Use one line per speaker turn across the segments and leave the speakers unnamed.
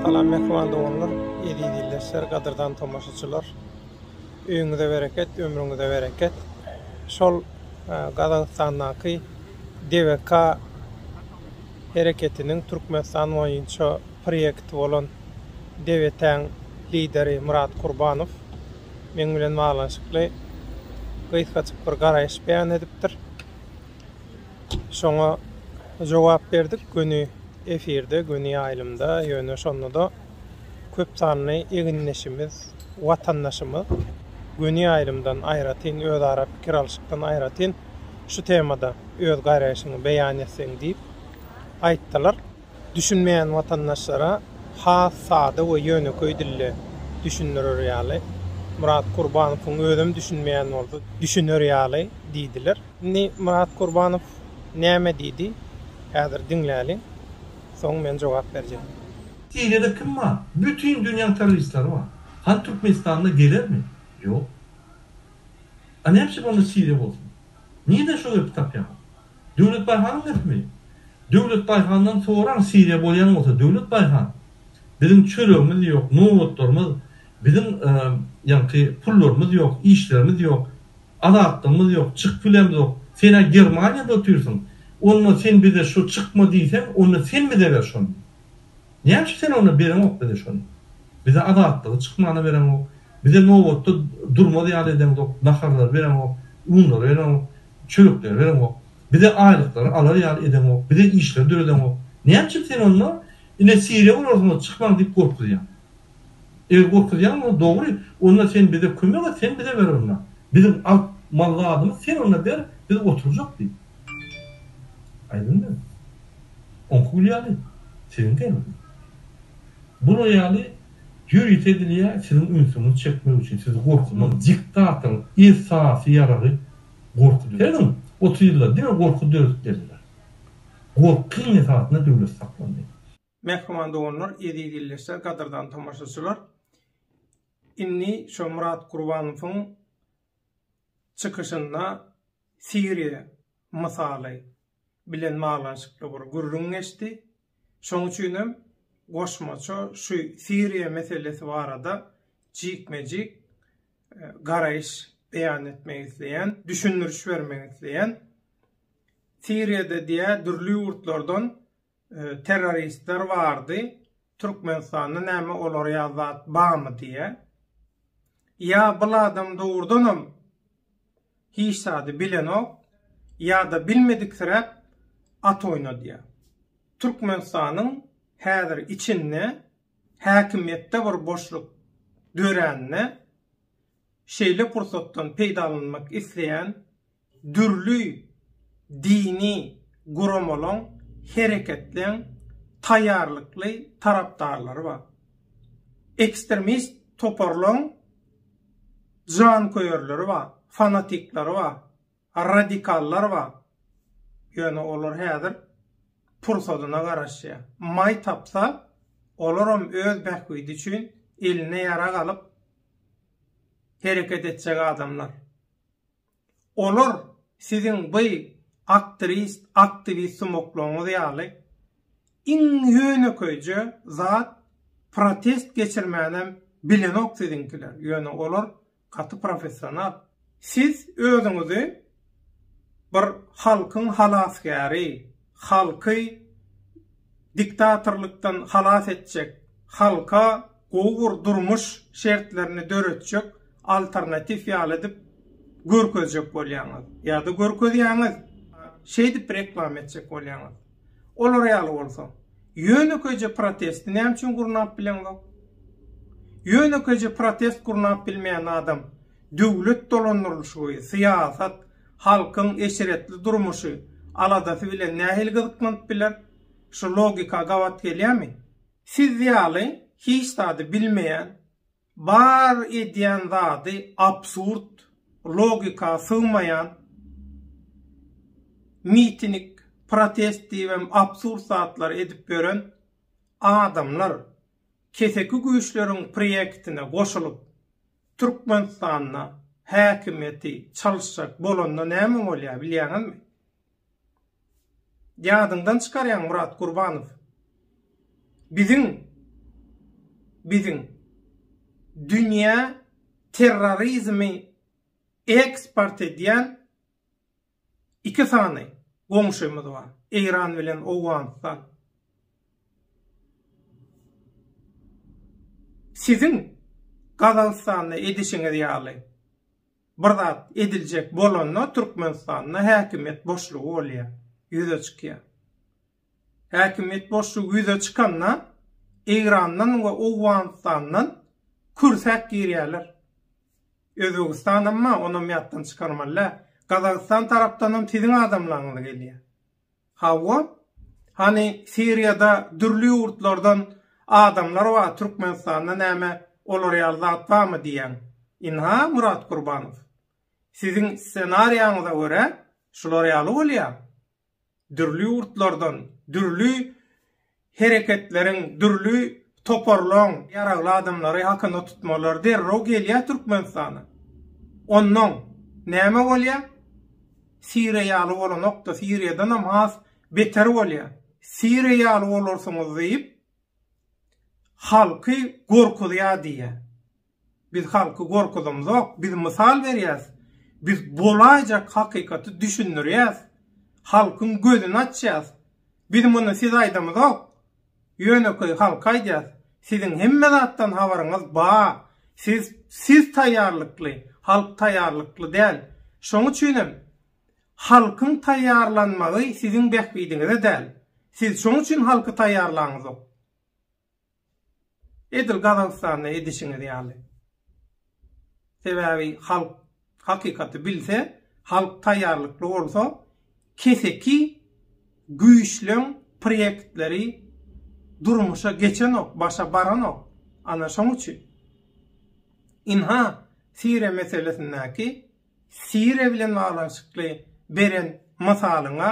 Salam mehman doganlar, eziz ildeşler, gadyrdan tomaşaçylar. Öýüňize bereket, ömrüňize bereket. Şol Gazagystandaky DVK hereketiniň Türkmenistan boýunça proýekti bolan DVT-iň lideri Myrat Kurbanow meň bilen baglanyşykly gysgajyk bir garaýyş beýan edipdir. Şoňa jogap berdik göni efirde, göni ýaýlymda, ýöne şonda-da köp sanly egindeşimiz, watandaşymyz göni ýaýlymdan aýratyn, özara pikir alyşykdan aýratyn şu temada öz garaýşyňy beýan etseň diýip aýtdylar. Düşünmeýän watandaşlara has sada we ýönekeý dilde düşündirer ýaly, Myrat Kurbanowyň özem düşünmeýän bolsa, düşüner ýaly diýdiler. Indi Myrat Kurbanow näme diýdi, häzir diňläliň, soň men jogap berjek. Siriýada kim
bar? Bütin dünýäň terroristlary bar. Hany Türkmenistanda gelermi? Ýok. A näme üçin onda Siriýa bolsun? Nirden şo gepi tapýaňyz? Döwlet Baýhanyň hökmi? Döwlet Baýhandan soraň Siriýa bolýan bolsa Döwlet Baýhan biziň çöregimiz ýok nobatlarymyz biziň ýaňky pullarymyz ýok işlerimiz ýok azatlygymyz ýok çykyp bilemzok senä Germaniýada otyrsyň onda sen bize şu çykma diýseň onda sen bize ber şony näçe sen onda bereňok bize şony bize azatlygy çykmana bereňok bize nobatda durmaz ýaly edeňzok naharlary bereňok unlary bereňok Çörekleri bereňok. Bize aýlyklary alar ýaly edeňok. Bize işleri döredeňok. Näme üçin sen onda ine Siriýa urarsyňyz çykmaň diýip gorkuzýaň? Eger gorkuzýan bolsaň dogry, onda sen bize kömek et, sen bize ber onda. Biziň alyp mal zadymyz sen onda ber, biz oturjak diýip. Aýdym diýip. Oňky gül ýaly, siziňki hem. Bular ýaly Ýörite edilýär, siziň ünsüňizi çekmek üçin, sizi gorkuzmak, diktatoryň esasy ýaragy gorkudyr. Seredin, otuz ýylda diňe gorky döredip geldiler. Gorkyň esasynda döwlet saklandy. Mähriban
doganlar, eziz ildeşler, gadyrdan tomaşaçylar! Indi şo Myrat Gurbanowyň çykyşynda Siriýa mysaly bilen baglanyşykly bir gürrüň geçdi. Şoň üçin hem goşmaça şu Siriýa meselesi barada jikme-jik garaýyş beýan etmek isleýän, düşündiriş bermek isleýän. Siriýada diýýär, dürli ýurtlardan terroristler bardy Türkmenistanda näme olar ýa zat bamy diýä ýa bul adam dogurdanam hiç zady bilenok ýada bilmediksiräp at oýnadýa Türkmenistanyň häzir içinde häkimiýetde bir boşluk dörände şeýle pursatdan peýdalanmak isleýän dürli dini guramalaň, hereketleň taýýarlykly tarapdarlary bar. Ekstremist toparlaň janköýerleri bar, fanatikleri bar, radikallar bar. Ýöne olar häzir pursadyna garaşýar. Maý tapsa, olaram öz bähbidi üçin eline ýarag alyp hereket etjek adamlar. Olar siziň by aktrist, aktiwist sumaklaryňyz ýaly iň ýönekeýje zat protest geçirmänem bilenok siziňkiler, ýöne olar gaty professional. Siz özüňizi bir halkyň halasgäri, halky diktatorlykdan halas etjek, halka gowy bir durmuş şertlerini döretjek alternatiw ýaly edip görkezjek bolýaňyz ýa-da görkezýäňiz, şeýdip reklama etjek bolýaňyz. Olar ýaly bolsa, ýönekeýje protesti näme üçin gurnap bileňzok? Ýönekeýje protest gurnap bilmeýän adam döwlet dolandyrylyşygy, syýasat, halkyň eşretli durmuşy aladasy bilen nähili gyzyklanyp biler? Şu logika gabat gelýärmi? Siz ýaly hiç zady bilmeýän, bar edýän zady absurd, logika sygmaýan, mitinik, protest diýibem absurd zatlary edip ýören adamlar keseki güýçleriň priýektine goşulyp, Türkmenistanda häkimiýeti çalyşjak bolanda näme bolýar bilýäňizmi? Ýadyňdan çykarýaň Murat Gurbanow. Biziň biziň dünýä terrorizmi eksport edýän Iki sany goňşymyz bar, Eýran bilen Owganystan. Siziň Gazagystanda edişiňiz ýaly bir zat ediljek bolanda Türkmenistanda häkimiýet boşlugy bolýar, ýüze çykýar. Häkimiýet boşlugy ýüze çykanda, Eýrandan we Owganystandan kürsäp girýärler. Özbegistanam bar, onam ýatdan çykarmaly däl. Gazagystan tarapdanam siziň adamlaryňyz gelýär. Hawa, hany Siriýada dürli ýurtlardan adamlar bar, Türkmenistanda näme olar ýaly zat barmy diýýän. Ynha, Murat Gurbanow, siziň ssenariýaňyza görä, şular ýaly bolýar. dürli ýurtlardan dürli hereketleriň, dürli toparlaň ýaragly adamlary hakynda tutmalar derrew gelýär Türkmenistana. Onnoň näme bolýar? Siriýa ýaly bolanok-da, Siriýadanam has beter bolýar. Siriýa ýaly bolarsyňyz diýip, halky gorkuzýar diýýär. Biz halky gorkuzamzok, biz mysal berýäs, biz bolaýjak hakykaty düşündirýäs, halkyň gözüni açýas. Biz muny siz aýdamzok, ýönekeý halka aýdýas. Siziň hemme zatdan habaryňyz ba, siz siz taýýarlykly, halk taýýarlykly däl. Şoň üçinem halkyň taýýarlanmagy siziň bähbidiňize däl. Siz şoň üçin halky taýýarlaňzok. Edil Gazagystanda edişiňiz ýaly. Sebäbi halk hakykaty bilse, halk taýýarlykly bolsa, keseki güýçleň proýektleri durmuşa geçenok, başa baranok. Ana şoň üçin. Ynha, Siriýa meselesindäki Siriýa bilen baglanyşykly beren mysalyňa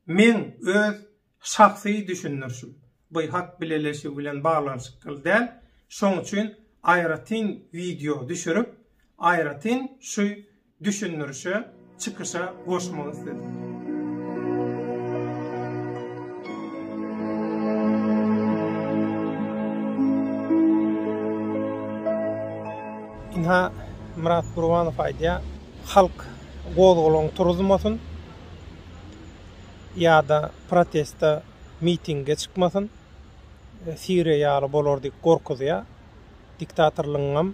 meň öz Şahsy düşündirişim, bu hat bileleşigi bilen baglanyşykly däl, şoň üçin aýratyn wideo düşürip, aýratyn şu düşündirişe, çykyşa goşmak isledim. Ynha, Myrat Gurbanow aýdýar, Halk gozgalaň turuzmasyn. ýa-da proteste mitinge çykmasyn, Siriýa ýaly bolar diýip gorkuzýar. Diktatorlygyňam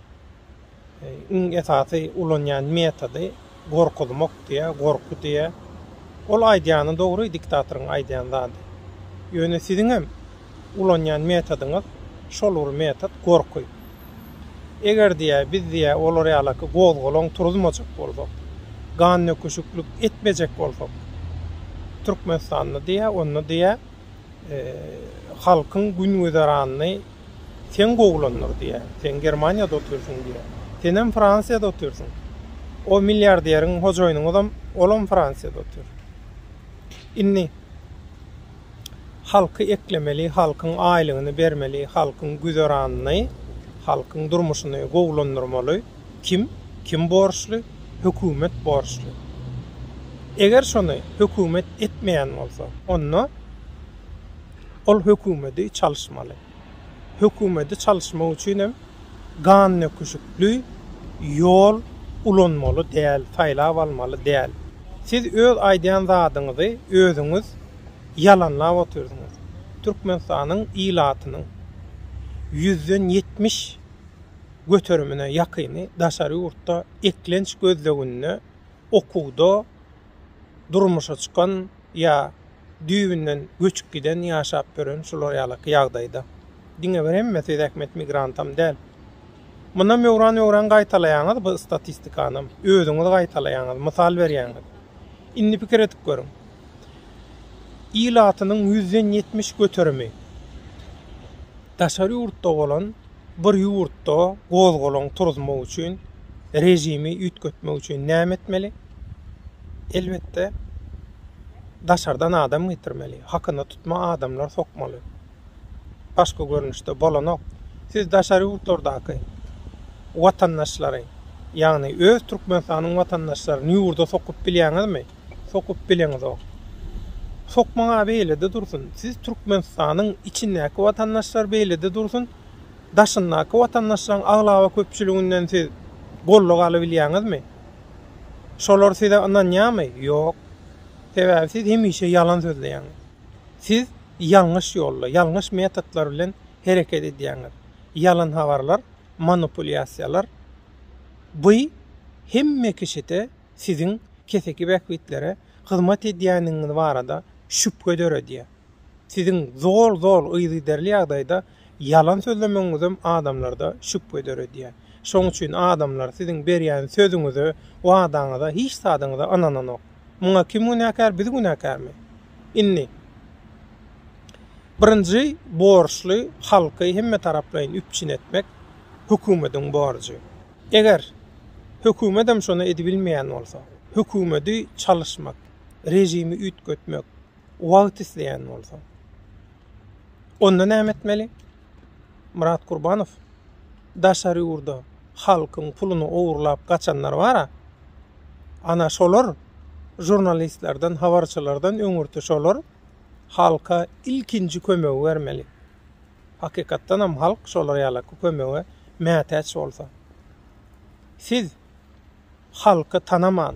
iň esasy ulanýan metody gorkuzmak diýä, gorky diýä. Ol aýdýany dogry, diktatoryň aýdýan zady. Ýöne siziňem ulanýan metodyňyz şol bir metod gorky. Eger diýä biz diýä olar ýalaky gozgalaň turuzmajak bolsak, gannöküşiklik etmejek bolsak Türkmenistanda diýä onda diýä halkyň gün güzeranyny sen gowulandyr diýä. Sen Germaniýada otyrsyň diýä. Senem Fransiýada otyrsyň. O milliarderiň hojaýynyňyzam olam Fransiýada otyr. Indi. Halky eklemeli, halkyň aýlygyny bermeli, halkyň güzeranyny, halkyň durmuşyny gowulandyrmaly kim? Kim borçly? Hökümet borçly. Eger şony hökümet etmeýän bolsa, onda ol hökümedi çalyşmaly. hökümeti çalyşmak üçin hem gannöküşikli ýol ulanmaly däl, saýlap almaly däl. Siz öz aýdýan zadyňyzy özüňiz ýalanlap otyrsyňyz. Türkmenistanyň ilatynyň ýüzden ýetmiş göterimine ýakyny daşary ýurtda eklenç gözleginde, okuwda, durmuşa çykan ýa düýbünden göçüp giden ýaşap ýören şular ýalaky ýagdaýda. Diňe bir hemme siz ähmet migrantam däl. Munam öwran öwran gaýtalaýaňyz bu statistikanam. Özüňiz gaýtalaýaňyz, mysal berýäňiz. Indi pikir edip görüň. Ilatynyň ýüzden ýetmiş göterimi Daşary ýurtda bolan bir ýurtda gozgalaň turuzmak üçin režimi üýtgetmek üçin näme etmeli? Elbetde daşardan adam getirmeli, hakyna tutma adamlar sokmaly. Başga görnüşde bolanok. Siz daşary ýurtlardaky watandaşlary, ýagny öz Türkmenistanyň watandaşlaryny ýurda sokup bilýäňizmi? sokup bileňizok. Sokmaň-a beýlede dursun, siz Türkmenistanyň içindäki watandaşlar beýlede dursun, daşyndaky watandaşlaryň aglaba köpçüliginden siz gollag alybilýäňizmi? Şolar size ynanýarmy? Ýok. Sebäbi siz hemişe ýalan sözleýäňiz. Siz ýalňyş ýolda, ýalňyş metodlar bilen hereket edýäňiz. Ýalan habarlar, manipulýasiýalar, by hemme kişide siziň keseki bähbitlere hyzmat edýändigiňiz barada şübhe döredýär. Siziň zol-zol yzygiderli ýagdaýda ýalan sözlemegiňizem adamlarda şübhe döredýär. Şonuň üçin adamlar siziň berýän sözüňize, wadaňyza, hiç zadyňyza ynananok. Muňa kim günäkär, biz günäkärmi? Indi, birinji borçly halky hemmetaraplaýyn üpjün etmek hökümetiň borjy. Eger hökümetem şony edibilmeýän bolsa, hökümedi çalyşmak, režimi üýtgetmek wagt isleýän bolsa, onda näme etmeli? Myrat Kurbanow daşary ýurda halkyň puluny ogurlap gaçanlar bar-a, ana şolar žurnalistlerden, habarçylardan öňürti şolar halka ilkinji kömegi bermeli. Hakykatdanam halk şolar ýala kömege mätäç bolsa. Siz halky tanaman,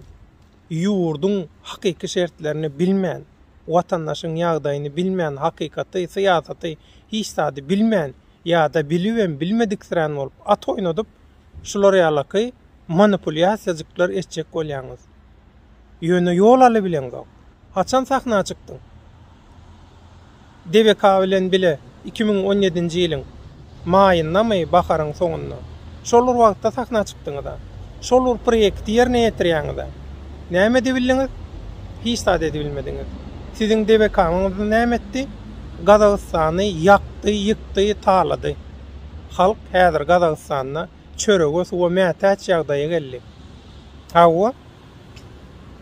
ýurduň hakyky şertlerini bilmän, watandaşyň ýagdaýyny bilmän, hakykaty, syýasaty, hiç zady bilmän ýa-da bilibem bilmediksirän bolup at oýnadyp, şular ýalaky manipulýasiýajyklar etjek bolýaňyz. Ýöne ýol alybileňzok. Haçan sahna çykdyň? DBK bilen bile iki müň on ýedinji ýylyň maýyndamy, baharyň soňunda. Şol bir wagtda sahna çykdyňyz-a. Şol bir proýekti ýerine ýetirýäňiz-ä. Näme edebildiňiz? Hiç zat edebilmediňiz. Siziň DBK-ňyz näme etdi? Gazagystany ýakdy, ýykdy, talady. Halk häzir Gazagystanda. çörege, suwa mätäç ýagdaýa geldi. Hawa,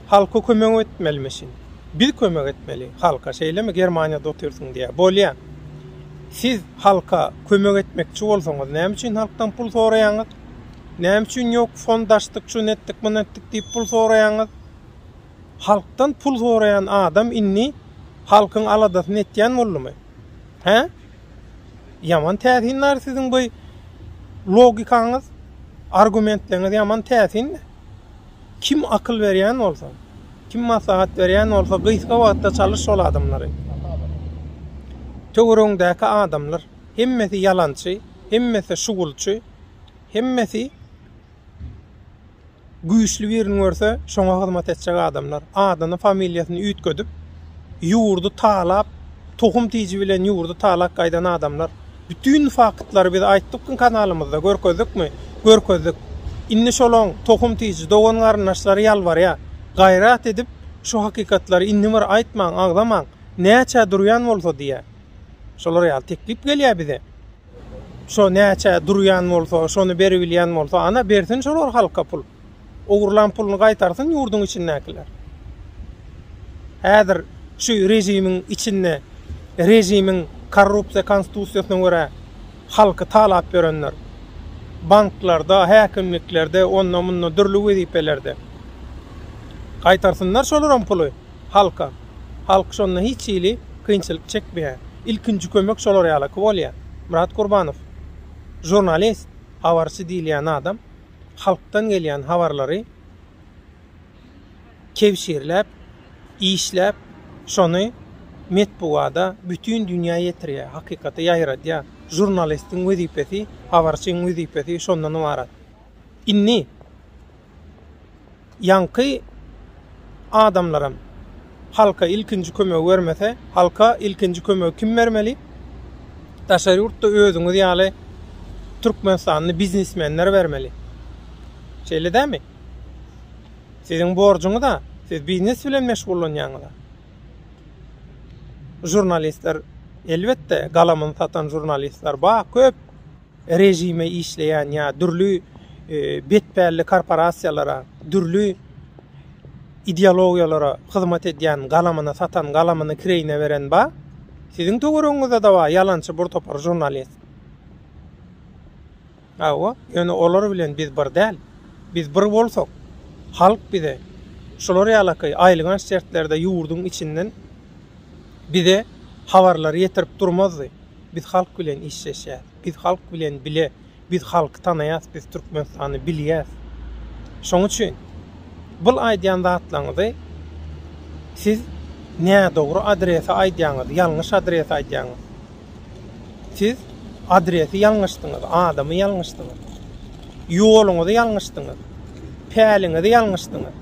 halka kömek etmelimişin. Biz kömek etmeli halka, şeýlemi? Germaniýada otyrsyň diýýär. Bolýa. Siz halka kömek etmekçi bolsaňyz, näme üçin halkdan pul soraýaňyz? Näme üçin ýok, fond açdyk, şuny etdik, muny etdik diýip pul soraýaňyz? Halkdan pul soraýan adam indi halkyň aladasyny etýän boldumy? Hä? Ýaman täsin lar siziň bu logikaňyz, argumentleriňiz ýaman täsin. Kim akyl berýän bolsa, kim maslahat berýän bolsa gysga wagtda çalyş şol adamlary. Töweregiňdäki adamlar hemmesi ýalançy, hemmesi şugulçy, hemmesi Güýçli birini görse, şoňa hyzmat etjek adamlar, adyny, familiýasyny üýtgedip, ýurdy talap, tohum tiji bilen ýurdy talak gaýdan adamlar. Bütin faktlary biz aýtdykmy kanalymyzda, görkezdikmi? Görkezdik. Indi şolaň tohum tiji dogan-garyndaşlary ýalbarýar. Gaýrat edip, şu hakykatlary indi bir aýtmaň, agzamaň, näçä durýan bolsa diýýär. Şolar ýaly teklip gelýär bize. Şo näçä durýan bolsa, şony beribilýän bolsa, ana, bersin şolar halka pul. Ogurlan puluny gaýtarsyn ýurduň içindäkiler. Häzir şu režimiň içinde režimiň korrupsiýa konstitusiýasyna görä halky talap ýörenler, banklarda, häkimliklerde, onda-munda dürli wezipelerde. Gaýtarsynlar şolaram puly. halka. Halk şonda hiç hili kynçylyk çekmeýär. Ilkinji kömek şolar ýalaky bolýar. Myrat Gurbanow, žurnalist, habarçy diýilýän adam halkdan gelýän habarlary kebşirläp, işläp, şony metbugada bütin dünýä ýetirýär, hakykaty ýaýradýar. Žurnalistiň wezipesi, habarçyň wezipesi şondan ybarat. Indi. ýaňky adamlaram halka ilkinji kömegi bermese, halka ilkinji kömegi kim bermeli? Daşary ýurtda özüňiz ýaly türkmenistanly biznesmenler bermeli. Şeýle dämi? Siziň borjuňyz-a, siz biznes bilen meşgullanýaňyz-a. Žurnalistler, elbetde, galamyny satan žurnalistler bar, köp. režime işleýän ýa dürli betpälli korporasiýalara, dürli ideologiýalara hyzmat edýän galamyny satan, galamyny kireýine beren ba? Siziň töweregiňizde-de bar ýalançy bir topar žurnalist. Hawa, ýöne olar bilen biz bir däl. Biz bir bolsak, halk bize şular ýalaky aýylganç şertlerde ýurduň içinden bize habarlary ýetirip durmazdy. Biz halk bilen işleşýäs. Biz halk bilen bile biz halky tanaýas biz Türkmenistany bilýäs. Şoň üçin bul aýdýan zatlaňyzy siz nädogry adrese aýdýaňyz ýalňyş adrese aýdýaňyz. Siz adresi ýalňyşdyňyz adamy ýalňyşdyňyz. Ýoluňyzy ýalňyşdyňyz. Päliňizi ýalňyşdyňyz.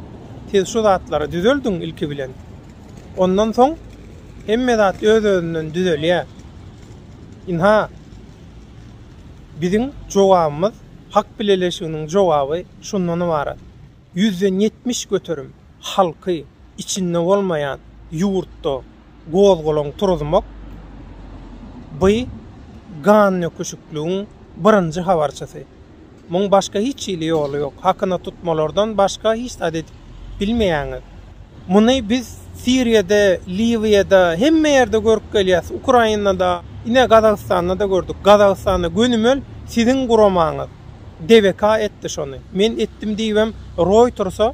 Siz şu zatlary düzeldiň ilki bilen. Ondan soň hemme zat öz-özünden düzelýär. Ynha, biziň jogabymyz, hak bileleşiginiň jogaby şundan ybarat, ýüzden ýetmiş göterim halky içinde bolmaýan ýurtda gozgalaň turuzmak, by gandöküşikligiň birinji habarçysy. Muň başga hiç hili ýoly ýok. Hakyna tutmalardan başga hiç zat edip bilmeýäňiz. Muny biz Siriýada, Liwiýada, hemme ýerde görüp gelýäs. Ukrainada, ine Gazagystanda-da gördük. Gazagystanda gönümel siziň guramaňyz DBK etdi şony. Men etdim diýibem Roýtersa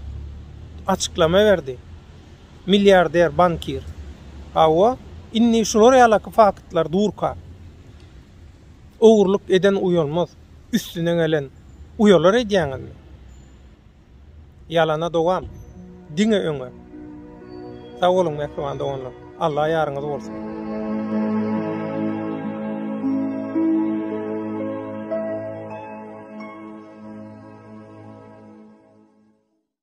açyklama berdi. Milliarder, bankir. Hawa, indi şular ýalaky faktlar durka. Ogurlyk eden uýalmaz, üstüne gelen uýalar edýäňizmi? Ýalana dowam, diňe öňe! Sag boluň mähriban doganlar, Alla ýaryňyz bolsun!